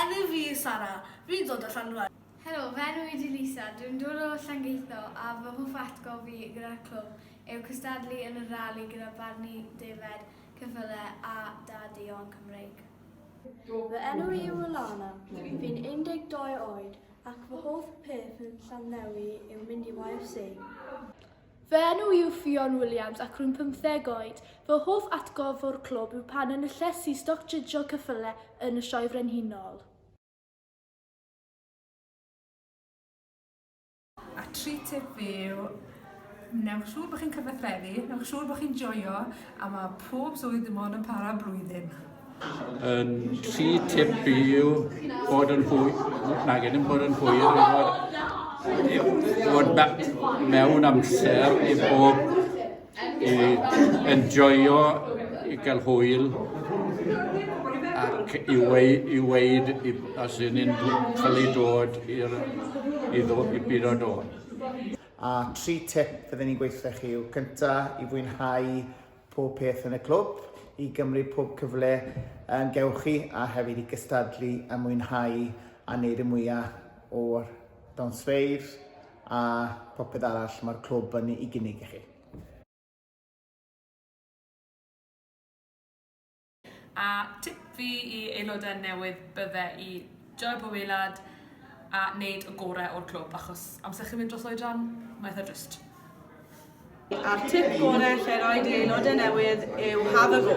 Enw fi yw Sara. Fi'n dod o Llanrwst. Helo, fy enw i di Lisa, dwi'n dod o Llangeitho a fy hoff atgof fi gyda'r clwb yw cystadlu yn y rali gyda barni defaid, cyffyle a da duon Cymreig. Fy enw i yw Alana, fi'n 12 oed ac fy hoff peth yn Llanddewi yw mynd i YFC. Fy enw yw Ffion Williams ac rwy'n pymtheg oed. Fy hoff atgof o'r clwb yw pan enillais i stoc jydgio cyffyle yn y Sioe Frenhinol. A tri tip fi yw, wnewch siŵr bod chi'n cyfathrebu, wnewch siŵr bod chi'n joio a mae pob swydd dim ond yn para blwyddyn. Yn rhy tip i yw bod yn hwy... nag yn bod yn hwyr i fod, i fod back mewn amser i bob i enjoyo, i gael hwyl ac i, wei, i weid i, os y'n ni'n cael ei dod i'r i, ddo, i byd o dod. A tri tip fydden ni'n gweithio chi yw cynta i fwynhau pob peth yn y clwb, i gymryd pob cyfle yn gewch chi a hefyd i gystadlu a mwynhau a wneud y mwyaf o'r dawnsfeydd a popeth arall mae'r clwb yn ei gynnig i chi. A tip fi i aelodau newydd bydde i joio pob eilad a wneud y gorau o'r clwb achos amser chi'n mynd dros oedran, mae eitha drist. A'r tip gorau lle roed i aelodau newydd yw have a go.